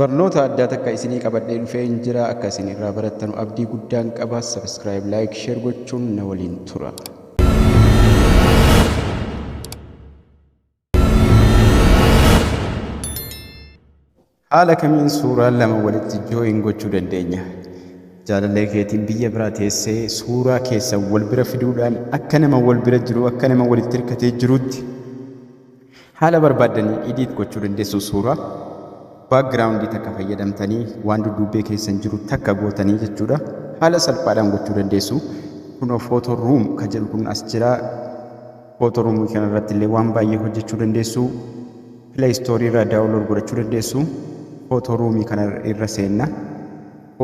Barnoota addaa takka isinii qabadhee dhufee hin jira akka isin irraa barattanu abdii guddaan qaba subscribe like share gochuun na waliin tura. Haala kamiin suuraa lama walitti join gochuu dandeenya? Jaalallee keetiin biyya biraa teessee suuraa keessan wal bira fiduudhaan akka nama wal bira jiru akka nama walitti hirkatee jiruutti haala barbaaddanii idiit gochuu dandeessu suuraa baakgiraawundii takka fayyadamtanii waan dudduubbee keessan jiru takka gootanii jechuudha. Haala salphaadhaan gochuu dandeessu. Kunoo footoo ruum kan jedhu kun as jira. Otorumii kana irratti illee waan baay'ee hojjechuu dandeessu. Play Store irraa download godhachuu dandeessu. Otorumii kana irra seenna.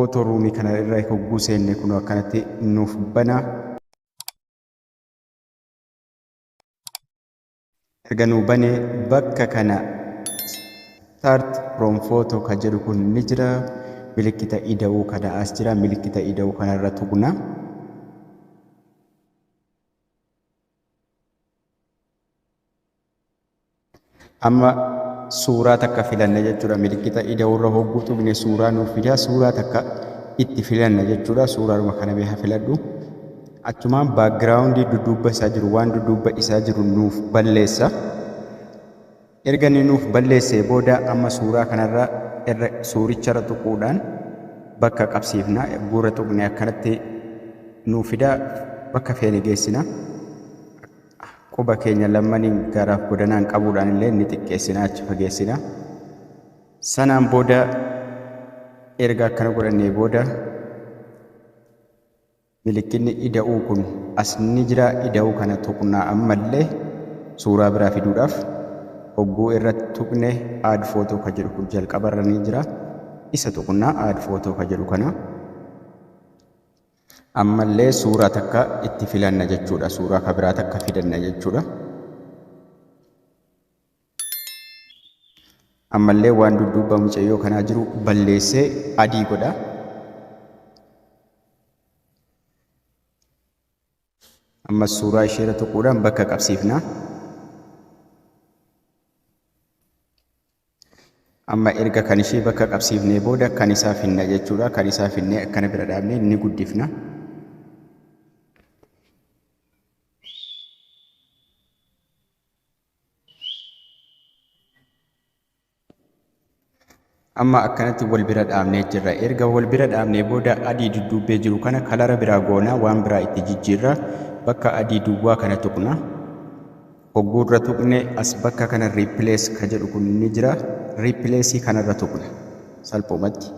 Otorumii kana irra hogguu seenne kun akkanatti nuuf bana. Erga nuu bane bakka kana start from photo ka jedhu kun ni jira. Milikkita ida'uu kana as jira. Milikkita ida'uu kana irra tuqna. amma suuraa takka filanna jechuudha milikkita ida'uurra hogguu tuqne suuraa nuuf fidaa suuraa takka itti filanna jechuudha suuraadhuma kana mee haa filadhu achumaan baakgiraawundii dudduubba isaa jiru waan dudduubba isaa jiru nuuf balleessa Erga inni nuuf balleessee booda amma suuraa kanarra irra suuricharra tuquudhaan bakka qabsiifna. Erguurra tuqnee akkanatti nuuf fida. Bakka feene geessina. Quba keenya lammaniin garaaf godanaan qabuudhaan illee ni xiqqeessina, achi fageessina. Sanaan booda erga akkana godhannee booda Milikkinni ida'uu kun as ni jira ida'uu kana tuqnaa ammallee suuraa biraa fiduudhaaf hogguu irra tuqne add photo ka jedhu kun jalqaba irra ni jira isa tuqnaa add photo ka jedhu kana ammallee suuraa takka itti filanna jechuudha suuraa ka biraa takka fidanna jechuudha. ammallee waan dudduuba mucayyoo kanaa jiru balleessee adii godha. Ammas suuraa isheerra tuquudhaan bakka qabsiifna. Amma erga kan ishee bakka qabsiifnee booda kan isaa finna jechuudha. Kan isaa finnee akkana bira dhaabnee ni guddifna. amma akkanatti wal bira dhaabnee jirra erga wal bira dhaabnee booda adii dudduubbee jiru kana kalara biraa goonaa waan biraa itti jijjiirra bakka adii duwwaa kana tuqna hogguurra tuqne as bakka kana riipilees ka jedhu kun ni jira riipileesii kanarra tuqna salphumatti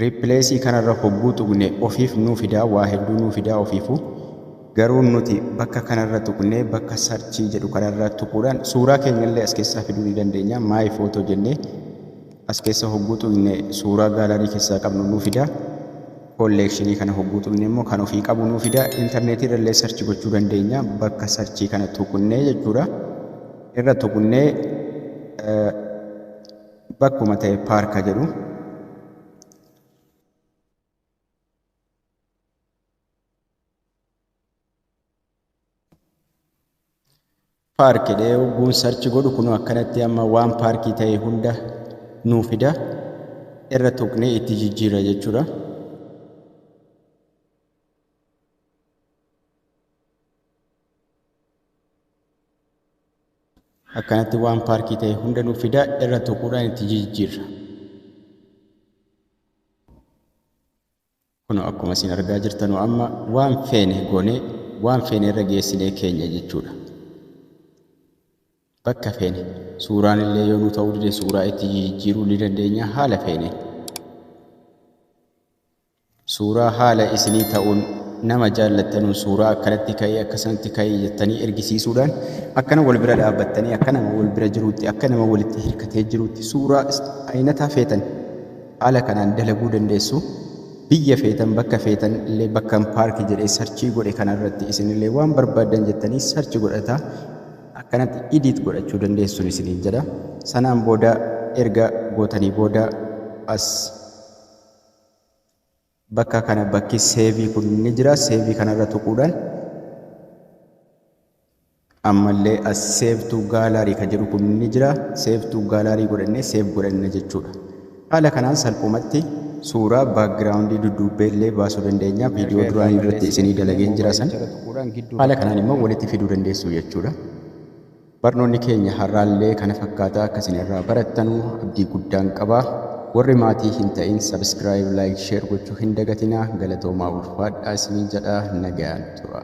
Replace kanarra hogguu tuqne ofiif nuu fidaa waa hedduu nuu fidaa ofiifu garuu nuti bakka kanarra tuqnee bakka search jedhu kanarra tuquudhaan suuraa keenyallee as keessaa fiduu ni dandeenya my photo jennee as keessa hogguu tuqne suuraa gaalarii keessaa qabnu nuu fidaa kolleekshinii kana hogguu tuqne immoo kan ofii qabu nuu fidaa intarneetii irrallee search gochuu dandeenya bakka search kana tuqnee jechuudha irra tuqnee Bakkuma ta'e paarka jedhu. Paark jedhee hogguun sarchi godhu kunoo akkanatti amma waan paarkii ta'e hunda nuu fida irra tuqnee itti jijjiirra jechuudha. Akkanatti waan paarkii ta'e hunda nuuf fidaa irra tuquudhaan itti jijjiirra. Kunoo akkuma isin argaa jirtanuu amma waan feene goonee waan feene irra geessinee keenya jechuudha. Bakka feene suuraan illee yoo nu ta'uu dide suuraa itti jijjiiruu ni dandeenya haala feeneen. Suuraa haala isinii ta'uun nama jaallattanuun suuraa akkanatti ka'ii akkasanatti ka'ii jettanii ergisiisuudhaan akkana wal bira dhaabbattanii akka nama wal bira jiruutti akka nama walitti hirkatee jiruutti suuraa ayinataa feetan haala kanaan dalaguu dandeessu. Biyya feetan bakka feetan illee bakkan paarki jedhee sarchii godhe kanarratti isinillee waan barbaaddan jettanii sarchi godhataa akkanatti idiit godhachuu dandeessuun isiniin jedha. Sanaan booda erga gootanii booda as bakka kana bakki seevii kun ni jira seevii kanarra tuquudhaan ammallee as seevtuu gaalaarii kan jedhu kun ni jira seevtuu gaalaarii godhannee seef godhanna jechuudha haala kanaan salphumatti suuraa baakgiraawundii dudduubbee illee baasuu dandeenya viidiyoo duraan irratti isinii dalageen jira san haala kanaan immoo walitti fiduu dandeessu jechuudha Barnoonni keenya har'aallee kana fakkaata akka isin irraa barattanu abdii guddaan qaba. Warri maatii hin ta'in subscribe, like, share gochuu hin dagatinaa. Galatoomaa ulfaadhaa isiniin jedha nagayaan tura.